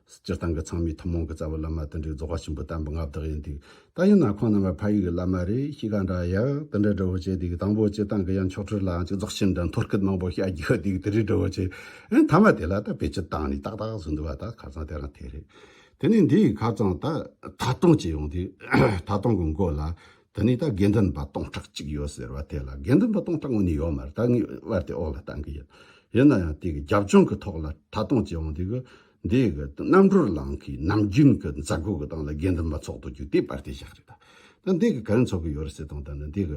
སྤྱིར་བཏང་གི་ཚང་མའི་ཐུན་མོང་གི་རྩ་བའི་བླ་མ་དེ་འདྲའི་རྫོགས་པ་ཆེན་པོ་དམ་པ་མངའ་བདག་ཡིན་འདུག་ད་ཡིན་ན་ཁོང་རྣམ་པ་ཕ་ཡུལ་གི་བླ་མ་རེད་གཤིས་ཀ་འདྲ་ཡག་དེ་འདྲའི་འབྲས་བུ་བྱས་འདུག་དང་པོ་སྤྱིར་བཏང་གི་ཡ་མཆོག་ཁྲི་ལའང་ཅིག་རྫོགས་ཆེན་འདྲ་འཐོར་སྐད་མང་པོ་བཤད་ཀྱི་ཡོད་འདུག་དེ་འདྲའི་འབྲས་བུ་བྱས་ཨེ་མཐའ་མ་དེ་ལ་ད་བེད་སྤྱོད་བཏང་ནས་ཏག་ཏག་བཟོས་འདུག་བ་ད་ག་ཚང་དེ་རང་དེ་རེད། དེ་ནི་འདི་ཡི་ཁ་ཙང་ད་ད་སྟོང་ཅི་ཡོང་དུས་ད་སྟོང་གི་མགོ་ལ་དེ་ནི་ད་དགེ་འདུན་པ་སྟོང་ཕྲག་གཅིག་ཡོད་ཟེར་བ་དེ་ལ་དགེ་འདུན་པ་སྟོང་ཕྲག་ངོ་ནི་ཡོད་མར་ད་ངའི་དབར་དེ་འོག་ལ་བཏང་གི་ཡོད། ཡིན་ན་ཡང་དེ་གི་རྒྱབ་ལྗོངས་གི་ཐོག་ལ་ད་སྟོང་ཅི་ཡོང་དུས་གི་འདི་ཡི་གི་རྣམ་གྲོལ་ལང་གི་ནམ་རྒྱུན་གི་མཛད་སྒོ་གི་སྟངས་ལ་དགེ་འདུན་པ་ཚོགས་འདུ་རྒྱུ་དེ་པར་དེ་བཞག་རེད་ད། ད་འདི་གི་ག་རེ་འཚོགས་གི་ཡོད་རེད་ཟེར་དང་ད་ནི་འདི་གི་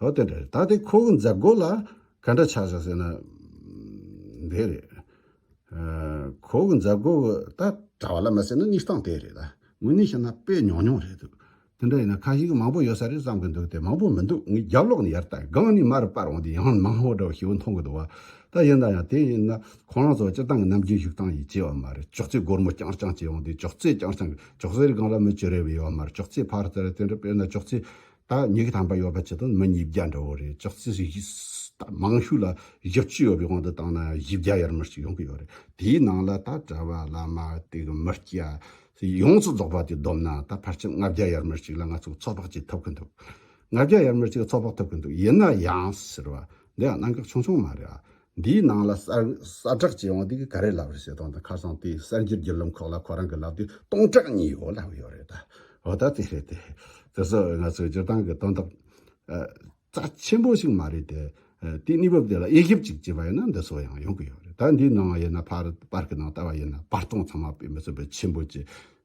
ཧོ་དེ་འདྲ་རེད་ད་དེ་ཁོ་གི་མཛད་སྒོ་ལ་ག་འདྲ་ཆགས་ཆགས་ཟེར་ན། དེ་རེད། ཁོ་གི་མཛད་སྒོ་གི་ད་གྲ་བ་ལ་མ་ཟེར་ན་གནས་སྟངས་དེ་རེད་ད། དངོས་གནས་བཤད་ན་དཔེ་ཉུང་ཉུང་རེད་འདུག་དེ་འདྲ་ཡིན་ན་ཁ་ཞིག་མང་པོ་ཡོད་ས་རེད་བསམ་གི་འདུག་དེ་མང་པོ་མི་འདུག་ངའི་རྒྱབ་ལོགས་ནས་ཡར་ལྟ་སྒང་ནས་མར་པར་འོང་དུས་ཡང་མང་བོ་འདྲ་བ་ཞིག་འོང་མཐོང་གི་འདུག་བ་ད་ཡིན་ན་ཡང་དེ་ཡིན་ན་ཁོ་རང་ཚོ་སྤྱིར་བཏང་གི་ནམ་རྒྱུན་བཞུགས་སྟངས་ཡིན་ཅེས་བ་མ་རེད་ཅོག་ཙེ་སྒོར་མོ་རྐྱང་རྐྱང་བཅས་འོང་དུས་ཅོག་ཙེ་རྐྱང་རྐྱང་གི་ཅོག་ཙེ་རི་སྒང་ལ་མི་བཅུ་རེ་བས་ཡོད་བ་མ་རེད་ཅོག་ཙེ་ཕར་ལྟ་རེད་དེ་འདྲ་དཔེར་ན་ཅོག་ཙེ་ད་མྱི་གི་དམ་པ་ཡོད་པ་ཅི་དང་མི་ཉིས་བརྒྱ་འདྲ་བོ་རེད་ཅག་ཙི་ད་མང་ཤོས་ལ་བཞི་བཅུ་ཡོད་པའི་དབང་དུ་བཏང་ན་བཞི་བརྒྱ་ཡར་མར་ཅིག་ཡོང་གི་ཡོད་རེད་དེའི་ནང་ལ་ད་གྲྭ་བ་བླ་མ་དེ་གི་མི་སྐྱ་སི་ཡོངས་སུ་རྫོགས་པ་དེ་བསྡོམས་ན་ད་ཕར་ཆེར་ལྔ་བརྒྱ་ཡར་མར་ཅིག་ལ་ང་ཚོ་ཚོགས་དཔག་ཅིག་ཐུབ་གི་འདུག་ལྔ་བརྒྱ་ཡར་མར་ཅིག་ཚོགས་དཔག་ཐུབ་གི་འདུག་ཡིན་ན་ཡང་ཟེར་བ་འདི་ཡང་གནང་གི་ཆུང་ཆུང་མ་རེད་ཨ་འདིའི་ནང་ལ་གསར་བསྒྲགས་བྱས་དབང་དེ་གི་ག་རེ་ལབ་རེད་ཟེར་དོང་དང་ཁ་སང་དེ་གསར་འགྱུར་བརྒྱུད་ལམ་ཁག་ལ་ཁོ་རང་གི་ལབ་དེ་སྟོང་ཕྲག་གཉིས་ཡོད་ལབ་ཡོད་རེད་ད། འོ་ད་དེ་རེད་དེ། དེ་ཚོ་ང་ཚོའི་སྤྱིར་བཏང་གི་དོན་དག་རྩ་ཆེན་པོ་ཞིག་མ་རེད་དེ། དེའི་གནས་བབ་དེ་ལ་དབྱེ་ཞིབ་ཅིག་བྱས་པ་ཡིན་ན་འདི་ཚོ་ཡང་ཡོང་གི་ཡོད་རེད་ད་འདིའི་ནང་ཡིན་ན་པར་གི་ནང་ལྟ་བ་ཡིན་ན་བར་སྟོང་ཚང་མ་དཔེ་མི་ཚོ་བོད་ཆེན་པོ་བཅས་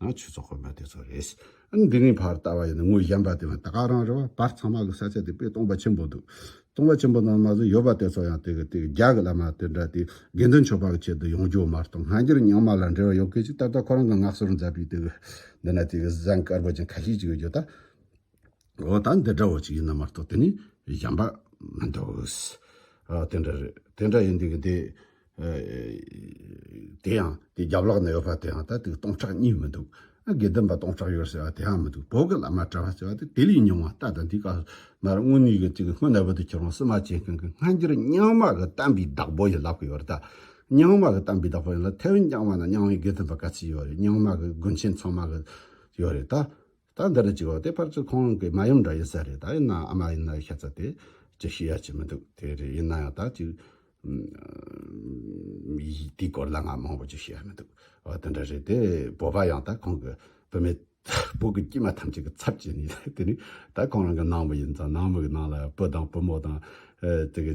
ང་ཆུ་ཚོད་དཔོན་པ་དེ་ཚོ་རེད། འདི་གཉིས་བར་ལྟ་བ་ཡིན་ན་ངོས་གཞན་པ་དེ་བས་ད་ག་རང་རེད་བ་བར་ཚང་མ་གི་ས་ཆ་དེ་དཔེ་སྟོང་པ་ཆེན་པོ་འདུག་སྟོང་པ་ཆེན་པོ་ནང་མ་ཟོས་ཡོད་པ་དེ་ཚོ་ཡང་དེ་གི་དེ་གི་རྒྱ་གི་བླ་མ་དེ་འདྲ་དེ་དགེ་འདུན་ཆོས་པ་གི་ཆེད་དུ་ཡོང་རྒྱུ་མ་རྟོག་སྔ་འགྱུར་ཉང་མ་ལ་འབྲེལ་བ་ཡོད་གི་ཅིག་ད་ལྟ་ཁོ་རང་གི་ནགས་སོར་འཛད་པའི་དེ་གི་འདི་ན་དེ་གི་གཟན་དཀར་པོ་ཅན་ཁ་ཤས་ཅིག་ཡོད་རྒྱུ་ད། འོ་ད་འདི་འདྲ་བོ་ཅིག་ཡིན་ན་མ་གཏོགས་དེ་ནི་བཞམས་པ་མི་འདུག། ཨ་དེ་འདྲ་རེད་དེ་འདྲ་ཡིན་འདུག་དེ་དེ་ཡང་དེ་རྒྱབ་ལོག་ན་ཡོད་པ་དེ་ཡང་ད་དེ་སྟོང་ཕྲག་གཉིས་མི་འདུག་ཨ་དགེ་ལྡན་པ་སྟོང་ཕྲག་ཡོད་ཟེར་བ་དེ་ཡང་མི་འདུག་བོད་ཀྱི་བླ་མ་གྲྭ་བ་ཟེར་བ་དེ་དེ་ལས་ཉུང་བ་ལྟ་དང་དེའི་སྐབས་སུ་མར་དངུལ་གཉིས་ཀྱི་ཅིག་སྔོན་ནད་པོ་དེ་ཁྱེར་བའང་བསུ་མ་བྱེད་མཁན་གྱི་སྔ་འགྱུར་རྙིང་མ་གི་གཏམ་པའི་བདག་པོ་ཡིན་ལབ་ཀྱི་ཡོད་རེད་ད། རྙིང་མ་གི་གཏམ་པའི་བདག་པོ་ཡིན་ལ་ཐེ་ཝན་རྐྱང་བ་ན་རྙིང་བའི་དགེ་ལྡན་པ་ག་ཚོད་ཡོད་རེད་རྙིང་མ་གི་དགོན་ཆེན་ཚང་མ་གི་ཡོད་རེད་ད། ད་འདི་རུ་བཅུག་ཨོ་དེ་ཕར་ཚུར་ཁོང་རང་གི་མ་ཡུམ་འདྲ་ཡིན་ས་རེད་ད་ཡིན་ནའང་ཨ་མ་ཡིན་ན་ཤ་ཚ་དེ་ཅི་ཤེས་ཡ་ཅི་མི་འདུག་དེ་རེད་ཡིན་ན་ཡང་ད་ཅིག་དེའི་སྐོར་ལ་ང་མང་པོ་ཅིག་ཤེས་ཡ་མི་འདུག་ཨོ་དེ་འདྲ་རེད་དེ་བོད་པ་ཡང་ད་ཁོང་གི་བུད་མེད་བུ་གི་དཀྱུས་མ་ཐམས་ཅད་ཀྱི་ཚབ་བྱེད་ནས་དེ་ནས་ད་ཁོང་རང་གི་ནང་མི་ཡིན་ཙང་ནང་མི་གི་ནང་ལ་བུ་དང་བུ་མོ་དང་དེ་གི་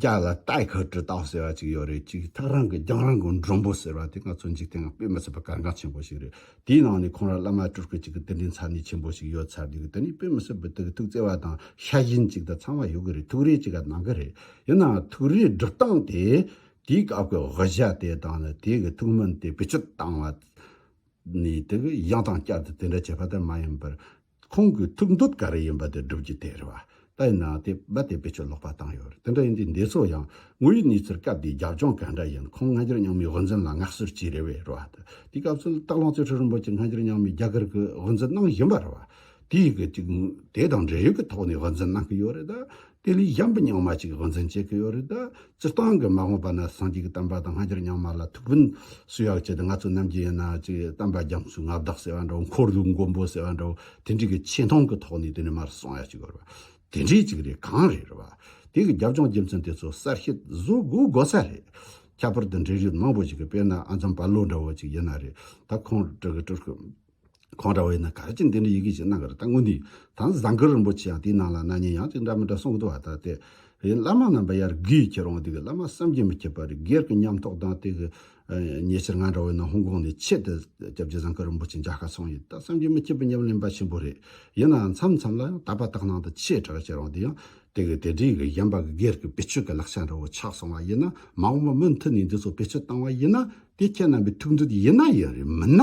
རྒྱ་ལ་ཏའི་ཁ་དྲི་རྟགས་ཟེར་བ་ཅིག་ཡོད་རེད་ཅིག་ཐག་རང་གི་རྒྱང་རིང་གི་མགྲོན་པོ་ཟེར་བ་དེ་ང་ཚོ་འཇིག་རྟེན་ང་དཔེ་མི་ཚུགས་པའི་གལ་འགངས་ཆེན་པོ་ཞིག་རེད་དེའི་ནང་ནས་ཁོང་རང་བླ་མ་སྤྲུལ་སྐུ་ཅིག་གི་གདན་འདྲེན་ཚར་ནུས་ཆེན་པོ་ཞིག་ཡོད་ཚར་འདུག་དེ་ནི་དཔེ་མི་ཚུགས་པའི་དུག་གི་ཐུགས་བརྩེ་བ་དང་ཤ་ཞེན་ཅིག་དང་ཚང་བ་ཡོད་གི་རེད་ཐུགས་རེ་ཅིག་ག་གནང་གི་རེད་ཡིན་ནའང་ཐུགས་རེའི་སྒྲུབ་སྟངས་དེ་དེའི་སྐབས་ཀྱི་དབུ་ཞྭ་དེ་དང་ནི་དེའི་གི་ཐུགས་སྨོན་དེ་བེད་སྤྱོད་བཏང་བ་ནི་དེ་གི་ཡང་དང་བསྐྱར་དུ་དེ་འདྲ་བྱེད་པ་དེ་མ་ཡིན་པར། ཁོང་གི་ཐུགས་འདོད་ག་རེ་ཡིན་པ་དེ་སྒྲུབ་རྒྱུ་དེ་རེད་བ། ད་ཡིན་ནའང་དེ་བས་དེ་བེད་སྤྱོད་ལོག་པ་བཏང་ཡོད་རེད་དེ་འདྲ་ཡིན་དུས་འདས་ཚོ་ཡང་ངོ་ཡི་གནས་ཚུལ་སྐབས་དེའི་རྒྱབ་ལྗོངས་ག་འདྲ་ཡིན་ཁོང་སྔ་འགྱུར་རྙིང་མའི་དབུ་འཛིན་ལ་མངགས་གསོལ་བྱས་རེད་བས་རེད་བ། དེ་སྐབས་ཚུལ་རྟགས་ལོངས་སྤྱོད་ཁྲི་རིན་པོ་ཆེ་སྔ་འགྱུར་རྙིང་མའི་རྒྱ་གར་གྱི་དབུ་འཛིན་གནང་བཞིན་པ་རེད་བ། དེའི་གི་ཅིག་དེ་དང་འབྲེལ་ཡོད་ཀྱི་ཐོག་ནས་དབུ་འཛིན་གནང་གི་ཡོད་རེད། དེ་ལས་གཞན་པའི་ཉག་མ་ཅིག་དབང་འཛིན་བྱེད་ཀྱི་ཡོད་རེད་ད། སྤྱིར་བཏང་གི་མ་འོངས་པ་ན་སངས་རྒྱས་ཀྱི་གཏམ་པ་དང་སྔ་འགྱུར་ཉག་མ་ལ་ཐུགས་ཕན་སུ་ཡག་བྱེད་དེ་ང་ཚོ་རྣམས་ཀྱི་ཡིན་ན་ཅིག་གཏམ་པ་རྒྱ་མཚོའི་མངའ་བདག་ཟེར་བ་འདྲ་བོ་འཁོར་ལོའི་མགོན་པོ་ཟེར་བ་འདྲ་བོ་དེ་འདྲའི་གི་ཆེ་མཐོང་གི་ཐོག་ནས་དེ་ནས་མར་སོང་ཡག་ཅིག་དགོས་རེད་དེ་འདྲའི་ཅིག་རེད་གང་རེད་རེད་བ། དེ་གི་རྒྱབ་ལྗོངས་རྒྱུ་མཚན་དེ་ཚོ་གསལ་བཤད་བཟོ་དགོས་དགོས་ས་རེད། ཁྱད་པར་དུ་འབྲེལ་ཡོད་མང་པོ་ཞིག་གི་དཔེར་ན་ཨ་འཛམ་བྷ་ལོ་འདྲ་བོ་ཅིག་ཡིན་ན་རེད་ད་ཁོང་དྲི་གི་དྲི་སྐོས། ཁོང་འདྲ་བ་ཡིན་ན་ག་རེ་ཅིག་འདི་འདྲའི་ཡི་གེ་ཞིག་གནང་གི་རེད་ད་དངོས་འདི་དང་བཟང་གི་རིན་པོ་ཆེ་ཡང་དེའི་ནང་ལ་ནང་ཉན་ཡང་ཅིག་འདྲ་མི་འདྲ་གསུང་གི་འདུག་ད་ལྟའི་བའི་བླ་མ་རྣམས་པ་ཡར་གུས་ཁྱེད་རང་འདིའི་བླ་མ་བསམ་གྱིས་མི་ཁྱབ་པ་རི་སྒེར་གྱི་ཉམས་རྟོགས་དང་དེ་གི་ཉེ་ཆར་ང་འདྲ་བ་ཡིན་ན་ཧོང་ཀོང་ནས་ཆེད་དུ་སྐྱབས་རྗེ་བཟང་གི་རིན་པོ་ཆེ་མཇལ་ཁ་སོང་ཡོད་ད་བསམ་གྱིས་མི་ཁྱབ་པའི་ཉམས་ལེན་པ་ཆེན་པོ་རེད་ཡིན་ནའང་མཚམས་མཚམས་ལ་ཡང་དག་པ་དག་ནང་དུ་ཆེ་དྲགས་ཁྱེད་རང་འདི་ཡང་དེ་གི་དེ་འདྲའི་གི་གཞན་པ་གི་སྒེར་གི་བེད་སྤྱོད་གི་ལག་ཆ་འདྲ་བོ་ཆགས་སོང་བ་ཡིན་ན་མ་འོངས་པ་མུ་མཐུད་ནས་འདི་ཚོ་བེད་སྤྱོད་བཏང་བ་ཡིན་ན་དེ་ཁྱེད་རྣམ་པའི་ཐུགས་འདོད་ཡིན་ན་ཡིན་རེད་མིན་ན།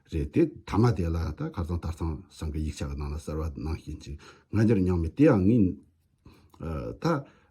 རེད་དེ། ཐ་མ་དེ་ལ་ད་ག་ཚང་དར་ཚང་སང་གི་ཡིག་ཆ་གི་ནང་ལ་གསར་བ་ནང་བཞིན་ཅིག་ང་འདིར་མྱངས་མེད་དེ་ཡང་ངས་ད་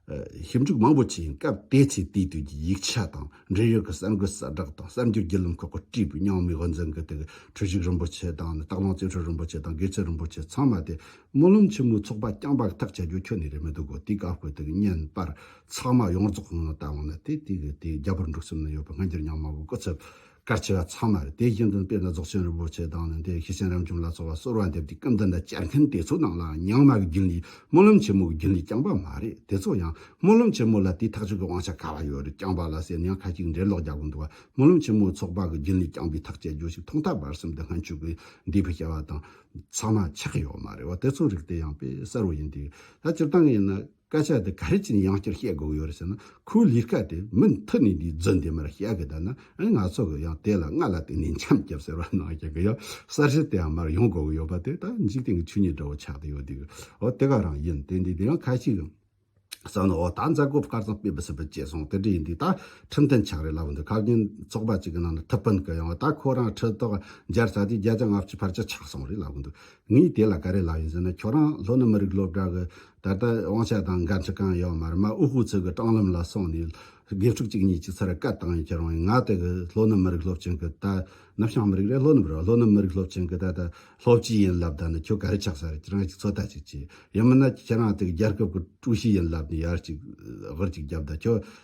ཞིབ་འཇུག་མང་པོ་བྱས་ཡིན་སྐབས་དེ་ཚེ་དེའི་དུས་ཀྱི་ཡིག་ཆ་དང་འབྲེལ་ཡོད་ཀྱི་གསར་འགོད་གསལ་བསྒྲགས་དང་གསར་འགྱུར་བརྒྱུད་ལམ་ཁག་གི་བཀྲིས་པའི་མྱངས་མའི་དབུ་འཛིན་གྱི་དེ་གི་གྲུ་བཞུགས་རིན་པོ་ཆེ་དང་ནི་སྟག་ལུང་རྩེ་ཁྲོད་རིན་པོ་ཆེ་དང་དགེ་ཚུལ་རིན་པོ་ཆེ་ཚང་མ་དེ་སྨོན་ལམ་ཆེན་མོའི་ཚོགས་པ་རྐྱང་པ་ཐག་བཅད་རྒྱུ་ཁྱོན་ནས་རེད་མི་འདུག་གོ་དེའི་སྐབས་ཀྱི་དེ་གི་བརྙན་པར་ཚང་མ་ཡོངས་རྫོགས་ངོ་ནས་བལྟ་འོང་ན་དེ་དུས་ཀྱི་དེའི་རྒྱ་བོད་འགྲོགས་ཚུལ་ནི་ཡོད་པ་ང་འདིར་མྱངས་མ་གོ་སྐུ་ཚབ། སྐར་ཆེ་བ་ཚང་མར་དེ་བཞིན་དུ་དཔེར་ན་རྫོགས་ཆེན་རིན་པོ་ཆེ་དང་ནི་དེའི་ཤེས་བྱའི་རིམ་བྱུང་ལ་སོགས་པ་གསོལ་བ་འདེབས་ཀྱི་སྐབས་འདི་འདྲ་སྤྱད་མཁན་དེ་ཚོའི་ནང་ལའང་ཉང་མ་གི་རྒྱུན་ལས་སྨོན་ལམ་ཆེན་མོ་གི་རྒྱུན་ལས་རྐྱང་པ་མ་རེད་དེ་ཚོ་ཡང་སྨོན་ལམ་ཆེན་མོ་ལ་དེའི་ཐག་གཅོད་ཀྱི་དབང་ཆ་ག་བ་ཡོད་རེད་རྐྱང་པ་ལ་ཟེར་ན་ཡང་ཁ་ཅིག་འགྲེལ་ལོག་རྒྱག་གི་འདུག་བ་སྨོན་ལམ་ཆེན་མོའི་ཚོགས་པ་གི་རྒྱུན་ལས་རྐྱང་པའི་ཐག་བཅད་རྒྱུ་ཞིག་ཐོག་མཐའ་བར་གསུམ་དུ་སྔ་འཕྱུག་གི་འདས་པའི་བྱ་བ་དང་ཚང་མ་ཆགས་ཡོད་མ་རེད་བ་དེ་ཚོའི་རིགས་དེ་ཡང་དཔེ་གསར་བོ་ཡིན་དུས་ད་སྤྱིར་བཏང་གི་ཡིན་ན། སྐད་ཆ་འདི་ག་རེ་བྱས་ནས་ཡང་བསྐྱར་བཤད་དགོས་ཡོད་རེད་ཟེར་ན་ཁོའི་ལས་ཀ་དེ་མུ་མཐུད་ནས་འདིའི་རྫུན་འདི་མར་བཤད་གི་དང་ན་ཨེ་ང་ཚོ་གི་ཡང་དེ་ལ་སྔ་ལ་དེ་ནས་འཆམ་རྒྱབ་ཟེར་བ་ནང་བཞིན་གི་ཡང་གསར་བཞི་དེ་ཡང་མར་ཡོང་དགོས་གི་ཡོད་པ་དེ་ད་འཇིག་རྟེན་གི་ཆོས་ཉིད་འདྲ་བོ་ཆགས་ཏེ་ཡོད་དུས་ཨོ་དེ་ག་རང་ཡིན་དེ་འདི་དེ་ཡང་ཁ་ཅིག་གིས་བསམ་ན་ཨོ་ད་མཛད་སྒོ་སྐར་ཚང་སྤེལ་བ་ཟེར་བ་བྱས་སོང་དེ་འདྲ་ཡིན་དུས་ད་ཁྲིམས་མཐུན་ཆགས་རེད་ལབ་འདུག་ཁག་རྒན་ཚོགས་པ་ཅིག་གི་ནང་ན་ཁྲི་སྤུན་གི་ཡང་ད་ཁོ་རང་ཁྲི་ཐོག་འཇལ་ཚར་དུས་བརྒྱ་ཆ་ལྔ་བཅུའི་བར་ཆ་ཆགས་སོང་རེད་ལབ་གི་འདུག་ངས་དེ་ལ་ག་རེ་ལབ་ཡིན་ཟེར་ན་ཁྱོད་རང་ལྷོ་ནུབ་མི་རིགས་སློབ་གྲྭ་གི་ད་ལྟ་དབང་ཆ་དང་འགན་འཁྲི་གང་ཡོད་མར་མ་དབུ་ཧུ་ཚུ་གི་སྤྲང་ལམ་ལ་སོང་ནས་དགེ་ཕྲུག་གཅིག་གཉིས་ཀྱི་ཚུར་བཀའ་བཏང་ཡོད་ཀྱི་རང་ཡིན་ང་ལྟོས་གི་ལྷོ་ནུབ་མི་རིགས་སློབ་ཆེན་གི་ད་ནུབ་བྱང་མི་རིགས་རེད་ལྷོ་ནུབ་རེད་ལྷོ་ནུབ་མི་རིགས་སློབ་ཆེན་གི་ད་ལྟ་སློབ་སྤྱི་ཡིན་ལབ་ད་ནི་ཁྱོད་ག་རེ་ཆགས་ས་རེད་ཁྱེད་རང་གཅིག་ཚོད་ལྟ་ཅིག་བྱས་ཡིན་མིན་ན་ཁྱེད་རང་དེ་གི་རྒྱལ་ཁབ་གི་ཀྲུའུ་ཞི་ཡིན་ལབ་ནས་ཡར་ཅིག་ཧོར་ཅིག་རྒྱབ་ད་ཁྱོད་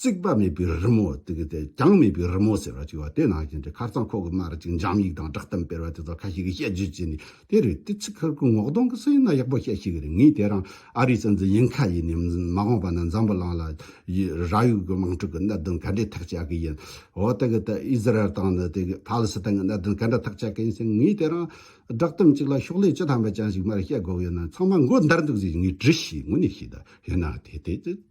རྩིག་པ་མེད་པའི་རི་མོ་དེ་གའི་ཐད་རྒྱང་མེད་པའི་རི་མོ་ཟེར་བ་ཅིག་བ་དེ་ནང་བཞིན་དྲི་ཁར་ཚང་ཁོག་གི་མར་ཅིག་འཇམ་ཡིག་དང་བསྒྲགས་གཏམ་སྤེལ་བ་དེ་ཚོ་ཁ་ཤས་ཀྱིས་དཔྱད་བརྗོད་བྱས་ནས་དེ་རེད་དེ་ཚིག་ཁར་གོས་ངོགས་སྟོང་གི་སྲོལ་ཡིན་ན་ཡག་པོ་བཤད་ཤེས་གི་རེད་ངས་དེ་རང་ཨ་རིའི་སྲིད་འཛིན་ཡིན་ཁ་ཡིན་ནས་མ་འོངས་པ་ན་འཛམ་བུ་གླིང་ལ་ར་ཡུག་གི་དམག་འཁྲུག་གི་གནད་དོན་ག་འདྲའི་ཐག་བཅད་གི་ཡིན་འོ་དེ་གའི་ཐད་ཨི་ཟི་རལ་དང་ནི་དེ་གའི་ཕ་ལི་སི་ཐན་གྱི་གནད་དོན་ག་འདྲ་ཐག་བཅད་གི་ཡིན་ཟེར་ངས་དེ་རང་བསྒྲགས་གཏམ་ཅིག་ལ་ཤོག་ལྷེ་ཅི་ཐམ་པ་ཅན་ཞིག་མར་བཤད་དགོས་ཡོད་ན་ཚང་མ་མགོ་འདར་འདུག་ཟེར་ངས་དྲིས་ཤིག་ངོ་ནས་ཤེས་ད་ཡིན་ན་དེ་དེ་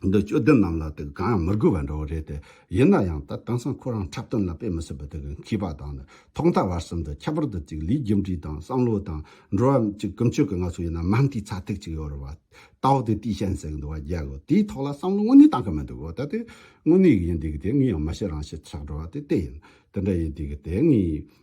འདི་སྐྱོ་ལྡན་རྣམས་ལ་དེ་གང་ཡང་མི་དགོས་པ་འདྲ་བོ་རེད་དེ། ཡིན་ན་ཡང་ད་དེང་སང་ཁོ་རང་འཁྲབ་སྟོན་ལ་དཔེ་མི་སྲིད་པ་དེ་གི་མཁས་པ་དང་ནི་ཐོག་མཐའ་བར་གསུམ་དུ་ཁྱད་པར་དུ་ཅིག་ལུས་རྒྱུ་འབྲས་དང་བསམ་བློ་དང་འགྲོ་བ་མིཀྱི་ཀུན་སྤྱོད་ཀྱི་ང་ཚོ་ཡིན་ན་མམ་དེའི་ཚ་ཐིག་ཅིག་ཡོད་རེད་བ། ད་འོ་དེ་དུས་ཤན་ཟེར་གི་འདུག་བ་རྒྱལ་གི་དེའི་ཐོག་ལ་བསམ་བློ་དངོས་གནས་གཏང་གི་མི་འདུག་གོ་ད་དེ་དངོས་གནས་ཡིན་དུས་ཀྱི་དེ་ངས་ཡང་མི་བཤད་རང་བཤད་ཆགས་འགྲོ་བ་དེ་དེ་ཡིན་དེ་འདྲ་ཡིན་དུས་ཀྱི་དེ་ངས་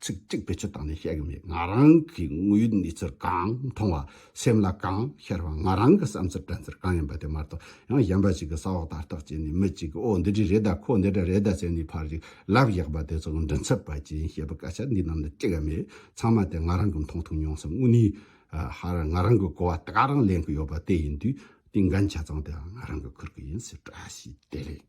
ཚིག་གཅིག་བེད་སྤྱོད་བཏང་ནས་བཤད་གི་མེད་ང་རང་གིས་དངོས་ཡོད་གནས་ཚུལ་གང་མཐོང་བ་སེམས་ལ་གང་ཤར་བ་ང་རང་གི་བསམ་ཚུལ་དྲན་ཚུལ་གང་ཡིན་པ་དེ་མ་གཏོགས་ཡང་གཞན་པ་ཞིག་གི་ས་འོག་དར་ཐག་བཅད་ནས་མི་གཅིག་གིས་ཨོ་འདི་འདྲས་རེད་ད་ཁོ་འདི་འདྲ་རེད་ད་ཟེར་ནས་ཕར་གཞིག་ལབ་གཞག་པ་དེ་ཚོ་མགྲིན་ཚབ་པ་ཅན་བཤད་པའི་སྐད་ཆ་འདི་རྣམས་ནི་ཅི་ག་མེད་ཚང་མ་དེ་ང་རང་གི་མཐོང་ཐོས་མྱོང་སེམས་དངོས་གནས་ཧར་ང་རང་གི་གོ་བ་དེ་ག་རང་ལེན་གི་ཡོད་པ་དེ་ཡིན་དུས་དེའི་འགན་ཆ་ཚང་དེའང་ང་རང་གིས་འཁུར་གི་ཡིན་ཟེར་བཀྲ་ཤིས་བདེ་ལེགས།